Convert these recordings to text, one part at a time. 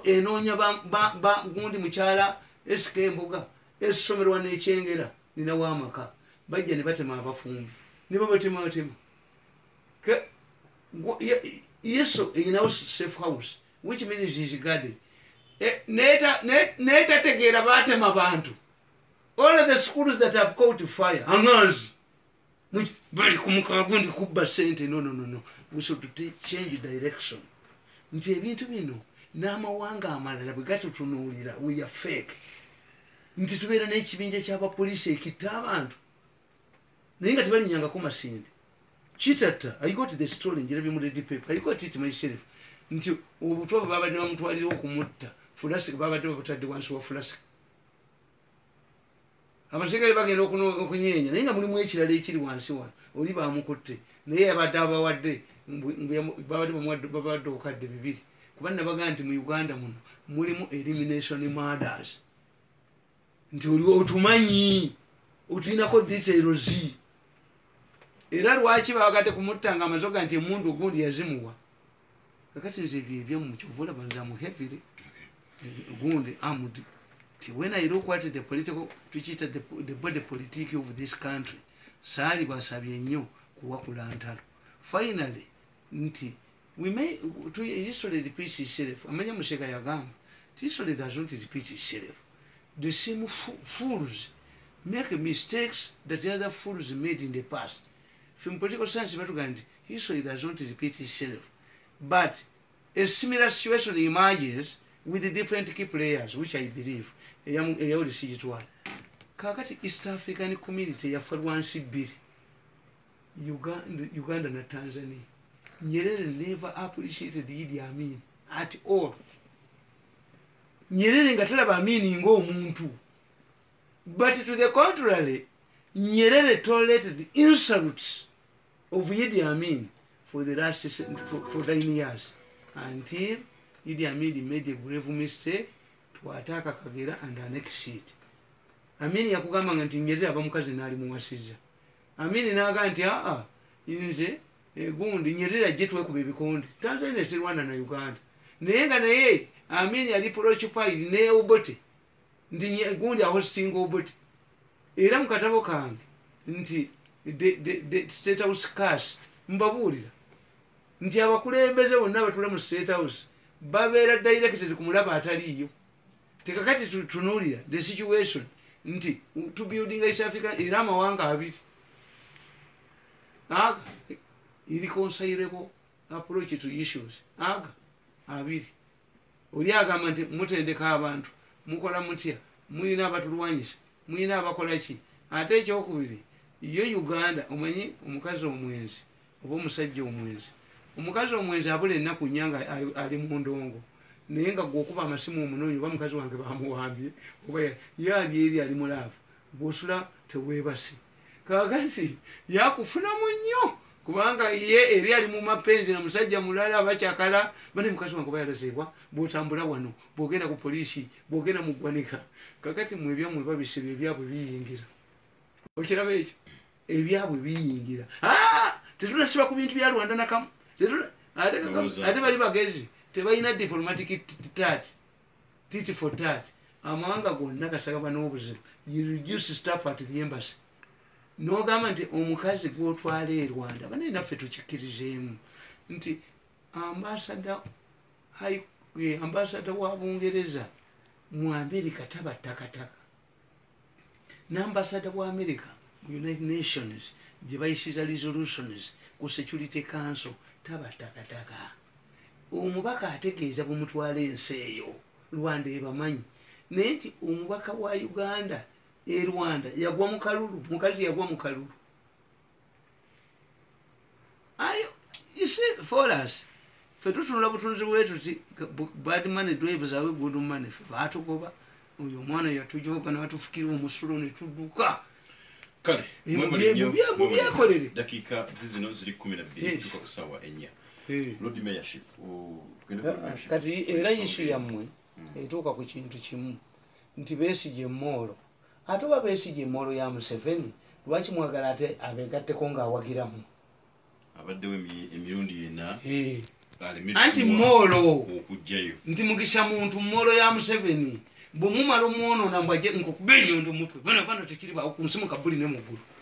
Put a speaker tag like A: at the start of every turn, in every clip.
A: enoonya gundi mukyala esika emboga esomerwa nekyengera ninawo amaka bajja ne batema abafumbi ne babatemabatema yesu eyinawo safe house which means is garden eh, netategeera batema bantu all the schools that have caught fire anganzi bali kumukawa gundi kubba sente nononono we should change direction nti ebintu bino n'amawanga amalala bwe gatutunuulira we are fake nti tubeera n'ekibinja ky'abapoliisi ekitta abantu naye nga tebalinyangako masinde kitatta i got the story njirabye mu lady paper i got it myself nti obutwa bwe babadde bamutwalira okumutta fulasika babadde babutadde wansi wa fulasika abasirikale bagenda okunyeenya naye nga mulimu ekirala ekiri wansi wano oli bamukutte naye yabadde abawadde babadde babawadde obukadde bibiri kuba nabaga nti mu uganda muno mulimu elimination murders nti oli otumanyi otulinako details era lwaki babagadde kumutta nga amazoga nti emundu ogundi yazimuwa kakati nze ebyo ebyamu kyova olaba nze amu heavily gundi amd ti when i look at the political tukiyita the body politic of this country saali basabye nnyo kuwakula ntalo finally nti we may to history repeats itself amanya museka yagamba ti history does not repeat itself the same fools make mistakes that the other fools made in the past Ffe mu political science batugamba nti history does not repeat itself but a similar situation emerges with different key players which I believe eyawuli sigitwala kakati East African community yafa lwansi bbiri Uganda, Uganda na Tanzania Nyerere never appreciated Idi Amin at all Nyerere nga talaba Amin ng'omuntu But to the contrary, Nyerere tolerated insults of Idi Amin for the last for, for nine years until Idi Amin made a grave mistake to attack Kagera and annex it. Amin yakugamba nga nti Nyerere aba mukazi n'ali muwasizza. Amin n'aga nti aa nze egundi Nyerere ajje twekuba ebikonde. Tanzania terwana na Uganda. Naye nga naye Amin yali preoccupied ne Obote. nti nye- gundi ahostinga obut era mu katabo kange nti the- the- the state house curse mbabuulira nti abakulembeze bonna abatula mu state house babeera directed ku mulaba ataliiyo tekakati tu- tunuulira the situation nti u- to building east africa era amawanga abiri aga irreconcilable approach to issues aga abiri Oli agamba nti mutendeka abantu, mukola mutya, mulina abatulwanyisa, mulina abakola ki? Ate ekyokubiri yo Uganda omanyi omukazi omwenzi oba omusajja omwenzi, omukazi omwenzi abula enaku nya nga ali mundongo naye nga gwe okuba amasimu omunonye oba mukazi wange bamuwambye oba ye ali eri ali mu love gwe osula tewebase. kakati yakufunamu nnyo kubanga ye eri ali mu mapenzi na musajja mulala abakyakala bane mukazi wange oba yalazeebwa bwotambula wano bwogenda ku poliisi bwogenda mu ggwanika kakati mwe ebyammwe babisa ebyo ebyabwe biyingira okiraba ekyo ebyabwe biyingira ah! tetunasiba ku bintu bya rwanda nakamu ate bali bagezi tebalina diplomatic tat tit for tat amawanga gonna gasagaba n'obuzibu you reduce staff at the embassy n'ogamba nti omukazi gw'otwala e rwanda banaye naffe tukikkirizeemu nti ambasada eh, ambasada wa bungereza mu amerika taba takataka nambasada wa america mu united nations gye bayisiza resolutions ku security council taba takataka omubaka ategeeza bwemutwala ensi eyo rwanda ebamanyi naye nti omubaka wa uganda e rwanda yagwa mu kalulu mukazi yagwa mu kalulu ayo you see for us fe tutunula butunzi bwetuti bad money drives awe good money fe batugoba oyo omwana yatujoga natufukira omusulo netuduka kale
B: mubyekolere
A: dakiika zizino
B: ziri kumi nabbiri tuka ku saawa enya lord mayorship
A: kati era isu yammwe hmm. etuuka ku kintu kimu nti besigye moolo Ate oba Besigye molo ya Museveni lwaki mwagala ate abegatteko nga
B: awagiramu. Abaddewo
A: emirundi
B: ena.
A: Hee. anti molo nti mugisha muntu molo ya museveni bwemumala omwonona mbwaje nkukuba enyondo mutwe bana bana tekiri bawo kunsimu kabuli ne mugulu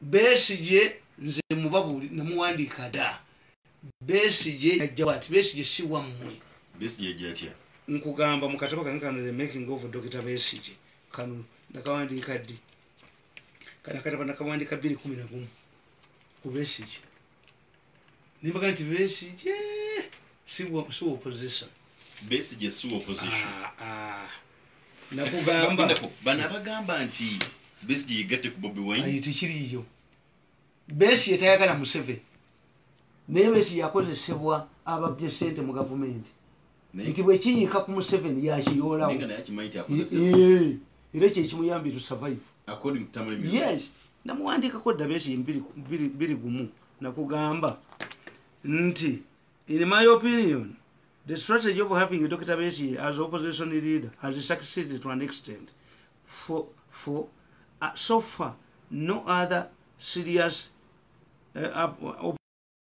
A: besigye nze mubabuli namuwandiika da besigye yajjawo ati besigye si wammwe besigye jatya nkugamba mu katabo kange kano the making of dokita besigye kano nakawandiika ddi kana katabo nakawandiika bbiri kumi nagumu ku besigye nembaga nti besigye siwoposition besigye
B: siwoposition ah, ah. nakugamba
A: bano abagamba
B: nti besigye yegatte ku bobi wine tekiriyo
A: besigye tayagala museveni naye besigye yakozesebwa ababbye sente mu gavumenti nti bwekiyiika ku museveni yakiyoolawo era kyekimuyambye to survive yes namuwandiikako dabeesi biri gumu nakugamba nti in my opinion the strategy of having dr besi as opposition leader has succeeded to an extent for, for uh, so far no other serious uh,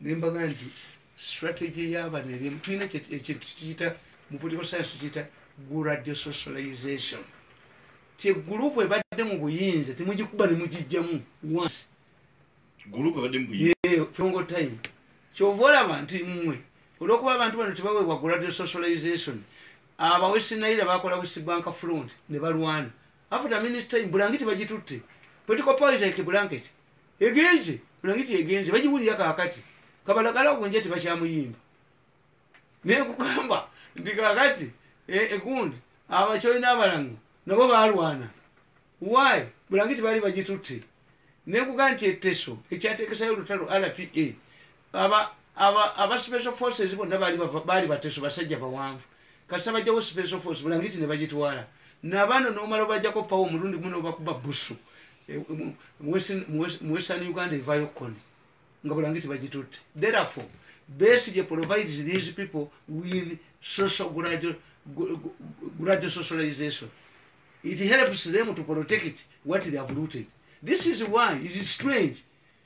A: Nembaga nti strategy yabano eri tulina ekintu tukiyita mu political science tukiyita gradual socialization ti group ebadde mu buyinza temugikuba ne mugijjamu once group
B: ebadde mu buyinza yeah from go time
A: kyova olaba nti mmwe olwokuba abantu bano tebaweebwa gradual socialization aba west naira bakola west bank front ne balwana after minute time bulangiti bagitutte political power is like a blanket Egenze, bulangiti egenze, bagiwulira kaakati. Kabalagala ogwo nja tebakyamuyimba. Naye nkugamba nti kaakati eh, egundi abakyoli n'abalango nabo baalwana. Why? Bulangiti baali bagitutte. Naye nkugamba nti etteso ekyateekesayo olutalo RPA, aba, aba, aba special forces bonna baali bateso basajja bawanvu. kasita bajjawo special force bulangiti nebagitwala nabano nomala obajjako pawa omulundi gumu nobakuba busu e, e, mu western uganda evayo kukoni nga bulangiti bagitutte therefore besigye provides these people with social gradual, gradual socialization it helps them to protect what they have looted this is why it is strange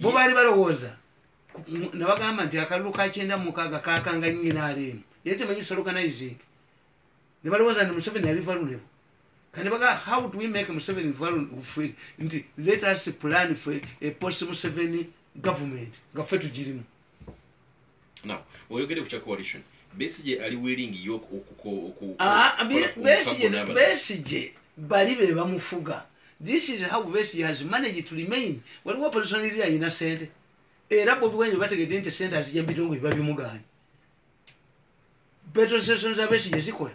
A: bo baali balowooza nabagamba nti akalulu ka kyenda mukaaga kakanga nyina aleemu naye temanyi sologanizing ne balowooza nti museveni yali valunebu kati baga how do we make museveni valunebu nti let us plan for a post museveni government nga ffe tugirimu
B: now oyogede ku kya coalition besije ali willing yo okukobesije
A: ah, bali be bamufuga this is how besije has managed to remain waliwo opposition iri ayina sente era bobi wine bategede nti sente azija mubitongole babimuganye petrol stations abesije zikola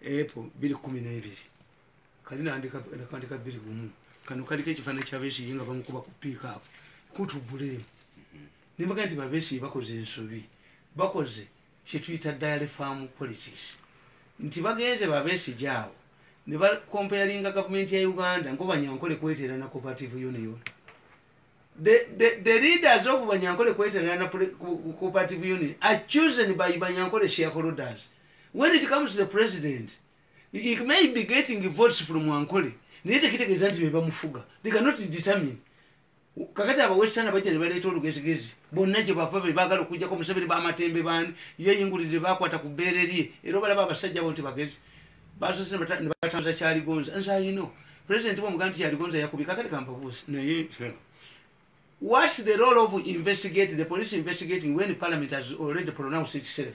A: Epo biri kumi n'ebiri kali nakandika biri gumu kano kaliko ekifaananyi kya Besigye nga bamukuba ku piikaapu kutu buleemu mhm. ne mbaga nti babesigye bakoze ensobi bakoze kyetuyita diary farm politics nti bagenze babesigye awo ne bakompeyalinga gavumenti ya uganda nko banyankole kweteera na cooperative union the leaders of banyankole kweteera na cooperative union are chosen by banyankole shareholders when it comes to the president he may be getting votes from ankole naye tekitegeeza nti bebamufuga they cannot determine kakati abawestana bajja ne baleeta olugezigezi bonna gye bava be baagala okujjako museveni bamatembe baani yeyingulidde bakwata ku bbeere lye era obalaba abasajja abo nti bagezi basoose ne batambuza kyaligonza nze ayino president bwomuga nti kyaligonza yakubye kakati kampabuusi naye whats the role of investigate the police investigating when parliament has already pronounced itself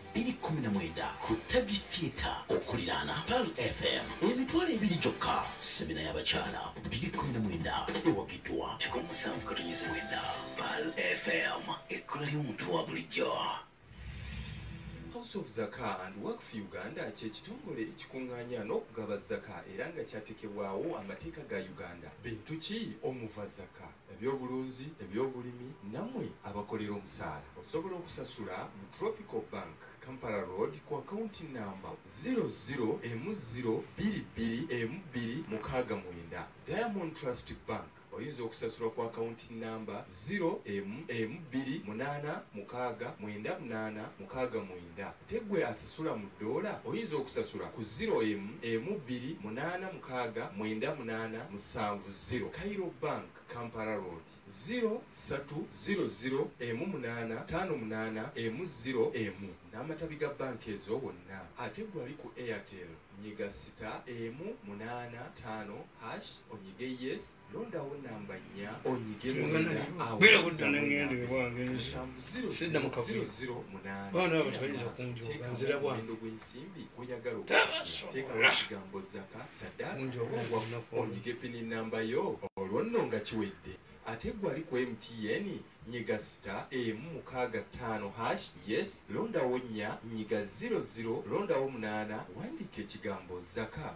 C: bbiri kkumi na mwenda ku Taggy Theatre okuliraana Pearl FM. Emitwalo ebiri gyokka semina y'abakyala bbiri kkumi na mwenda ewagiddwa kikumi musanvu katonyeze mwenda Pearl FM ekkula ly'omuntu wa bulijjo.
D: House of Zaka and Waqf Uganda kye kitongole ekikung'anya n'okugaba zaka era nga kyatekebwawo amateeka ga Uganda. Bintu ki omuva zaka? ebyobulunzi, ebyobulimi namwe abakolera omusaala osobola okusasula mu Tropical Bank, Kampala Road ku akawunti nnamba, ziro ziro emu ziro bbiri bbiri emu bbiri mukaaga mwenda. Diamond Trust Bank, oyinza okusasula ku akawunti nnamba, ziro emu emu bbiri munaana mukaaga mwenda munaana mukaaga mwenda. Ate gwe. Sula mu ddoola oyinza okusasula ku ziro emu emu bbiri munaana mukaaga mwenda munaana musanvu ziro Cairo Bank Kampala Road ziro ssatu ziro ziro emu munaana ttaano munaana emu ziro emu n'amatabi ga bbanka ezo wonna ate ggwe ali ku Airtel nyiga sita emu munaana ttaano hash onyige yes londawo namba nnya onyige sidda mu kavuyo baana abo tebayinza kunjoga nzira bwange gw'ensimbi gw'oyagala okuteekawo kigambo zaka sadaaonyige pini namba yo olwo nno nga kiwedde ate gwe ali ku mtn nyiga sita emu mukaaga ttaano hash yes londawo nnya nyiga 00 londawo munaana wandiika ekigambo zaka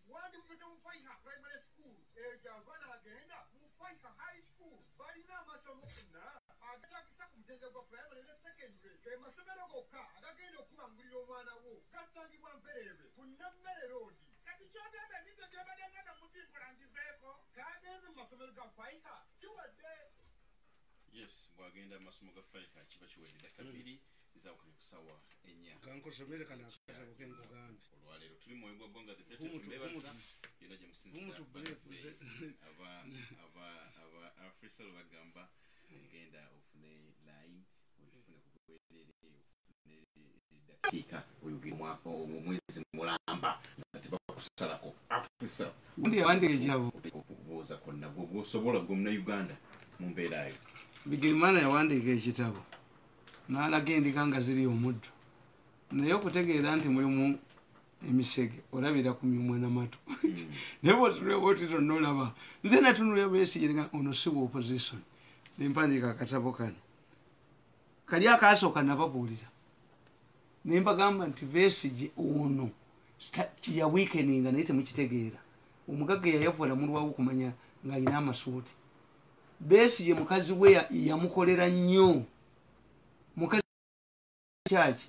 E: Wandivudde mu Faiha Primary School eyo gyava n'agenda mu Faiha High School. Balina amasomo gonna agatagisa ku mutendera gwa primary ne secondary. Ge masomero gokka agagenda okukubangulira omwana wo. Gasangibwa Mpereerwe ku Nammere Road. Kati ky'ogamba emize gy'obadde ng'enda mutimbula ngiveeko? K'agenze mu masomero ga Faiha kiwedde.
B: Yes, bw'agenda mu masomo ga Faiha kiba kiwedde. Dakika bbiri olwaleero tuli mwoyo gwa ggwanga zebebaza
A: yona gye
B: musinziraafrisal bagamba genda ofune line ofune kubwerere ofune eddakiika oyogirwako omwezi mulamba nga tebakusalako afrisal
A: okubuuza konna
B: gwosobola gwe munauganda mu mbeera yo bigirimana
A: yawandiika ekitabo n'alaga endiga nga ziri omuddo naye okutegeera nti mulimu emisege olabira ku myumwa namatu hmm. naye bwotulebotito nolaba nze natunula besigerega ono si wa opposition nempandiika akatabo kano kali akasooka nababuulira nembagamba nti besige ono ya weekeninga naye temukitegeera omugagga yayavula mulwawo okumanya ng'alina amasuuti besigye mukazi we yamukolera nnyo mukazi kyaki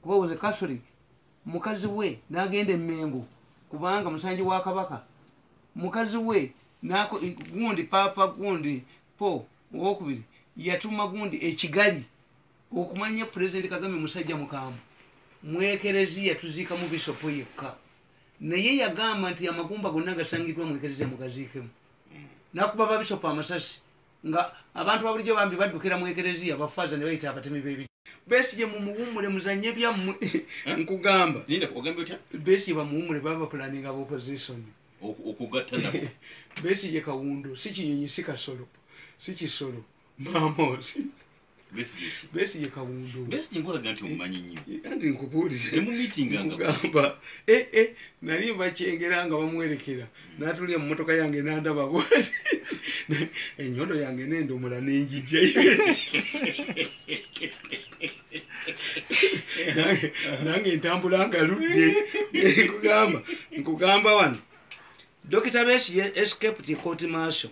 A: kuba was a catholic mukazi we n'agenda emmengo kubanga musanji wa kabaka mukazi we gundi paapa gundi po owokubiri yatuma gundi ekigali okumanya pulezidenti kagame musajja mukambwe mwekereziya tuziikamu bisopo yekka naye yagamba nti amagumba gonna agasangiddwa mu ekereziya mugaziikemu nakuba babisopa amasasi nga abantu babulijjo bambi baddukira mu ekereziya bafaaza ne bayita abatemi bebi besigye mumuwumule muzanye byammwe eh? nkugamba
B: besigye bamuwumule baba
A: bapulaninga ba opposition okugatta
B: nabo besigye
A: kawundu si kinyonyi si kasolo si kisolo mamosi besigye kawundo besigye nkulaga nti omumanyi
B: nnyo eh, anti nkubuulize
A: mumitingangamba ee eh, eh, nali mbakyengera nga bamuwerekera natulya mu motoka yange nandaba bwati enyondo yange nendomola nenjijja nange ntambula nga ludde nkugamba nkugamba wano dokita besigye escaped court marshal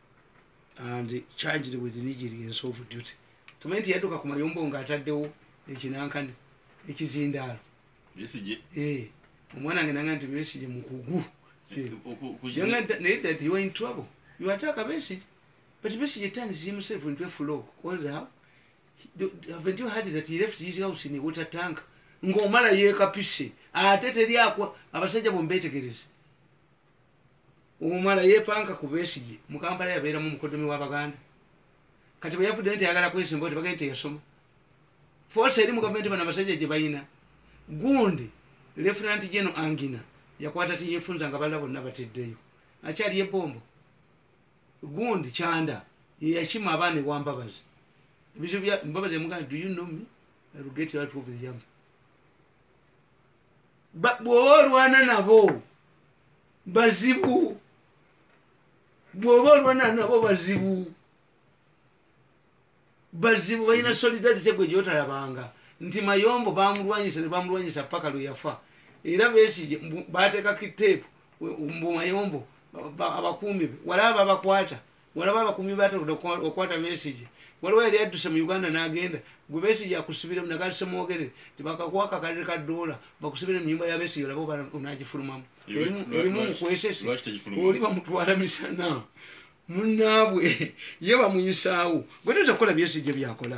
A: and charged with negligence of duty tumanyi nti yadduka ku mayombo nga ataddewo ekinankani ekizindaalo
B: eh, omwana nge
A: nanga nti besige mukugu naye that you are in trouble you attack a message but message turns himself into a flow calls how haven't you heard that he left his house in a water tank ng'omala yeekapise ate teri akwa abasajja bombeetegereze omumala yepanka ku besigye mukampala yabeeramu mukodomi wa baganda kati bweyavudde nti ayagala kwesimba ti bagende teyasoma foosi eri mu gavumenti bano abasajja gye balina gundi lefulanti geno angina yakwata tiyefunza nga balala bonna bateddeyo akyali ebombo gundi kyanda yeyakima abaana ewambabazi ebizibu bya mbabazi emugana do you know me I will get you out of the yam Ba- bw'oba olwana nabo bazibu bw'oba olwana nabo bazibu bazibu balina solidarity gwe gyotalabanga nti mayombo bamulwanyisa ne bamulwanyisa paka lwe yafa era besigye mbu- baateekako iteepu we- mbu mayombo ba- ba- abakuumi be walaba babakwata walaba abakuumi batonda okukwata besigye waliwo yali adduse mu uganda n'agenda gwe besigye akusibiremu naga semwogerere tibakakuwa kakalere ka doola bakusibire mu nyumba ya besigye olaba oba onagifulumamu erimu mukwesesi oli bamutwala misana munaabwe ye bamuyisaawo gwe toyinza kukola byesigye byakola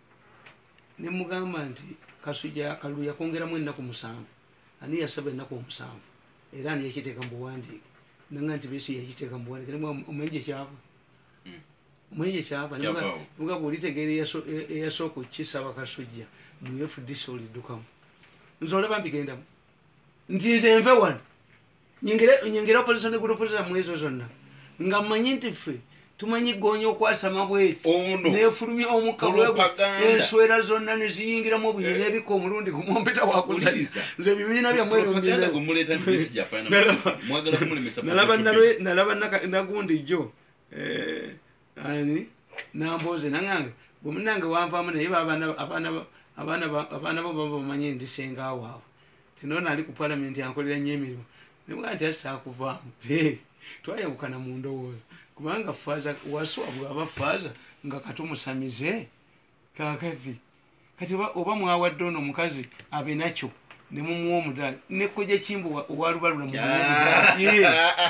A: ne mugamba nti kasujja akalulu yakongeramu ennaku musanvu ani yasaba ennaku omusanvu era ani yakiteeka mu buwandiike nanga nti besi yakiteeka mu buwandiike omanyi gye kyava hmm. omanyi gye kyava mugamba olitegeera eyasooka okukisaba kasujja mu fdc oliddukamu nze olaba mbigendamu nti nze nve wano nyongere opposition group zamwe ezo zonna nga mmanyi nti ffe tumanyi goonya okwasama bweti nefulumya omukalwego enswera zonna neziyingiramu obunyi eh. nebika omulundi gumumpita wakuza nze ebibiina byamwenalaba nagundi jo eh, nambooze nangange gwe munange wanvaamu naye abaana bo baba bamanye ndi senga waabwe tinona ali ku palamenti ankolera nyo emirimu nebwa nti asakuvaamu twayawukana mu ndowooza kubanga faaza waswa bwaba faaza nga katumusamize Kakati kati oba oba mwawadde ono omukazi abe nakyo ne mumuwa omudaali ne kojja kimbuwa owa lubalula mu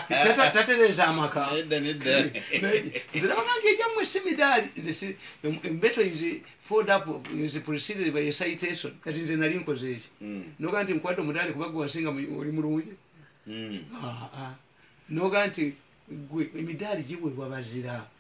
A: tata tatereza amaka nze nabagambye egyammwe si midaali nze si embeto izi fold up izi preceded by a citation kati nze nali nkoze eki mm. noga nti nkwade omudaali kuba gwe wasinga oli mulungi mm. ah, ah. noga nti gwe emidaali giweebwa bazira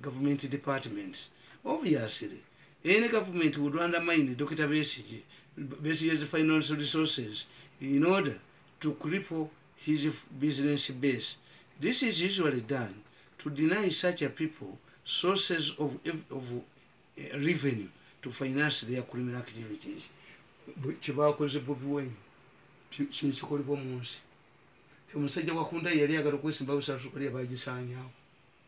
A: Gavumenti departments obviously any government would undermine Dokita Besigye Besigye's final resources in order to cripple his business base. This is usually done to deny such a people sources of, of uh, revenue to finance their criminal activities. Kyebakoze Bobi Wine kyekikolebwa mu nsi. Omusajja wakunda yali agala okwesimba busaasuka lya bagisaanyaawo.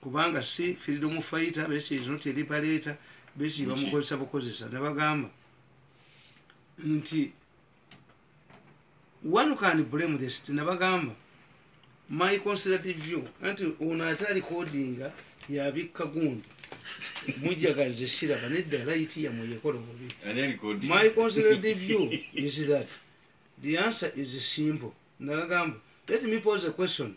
A: kubanga si freedom fighter but she is not a liberator but she bamukozesa bukozesa nabagamba nti one can blame this nabagamba my considerate view anti ono ate alikodinga yabikka gundi mujjagalize siraba nedda layiti yamwe yekola obubi my considerate view is that the answer is simple nabagamba let me pose a question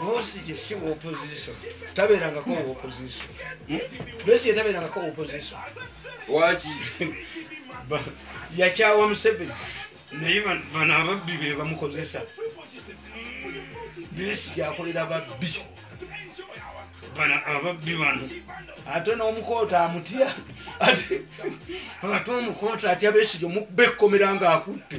A: bosi jesi opposition taberangako opposition bosi yetaberangako opposition waki yakyawa museveni naye bano ababbi be bamukozesa besi yakolera babbi bano ababbi bano ate n'omukoota amutya ate omukoota atya besijo mukubekkomera ng'akutte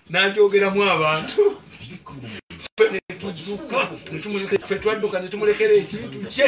A: n'agyogeramu abantu netudduka fe twadduka netumulekera ekintu kye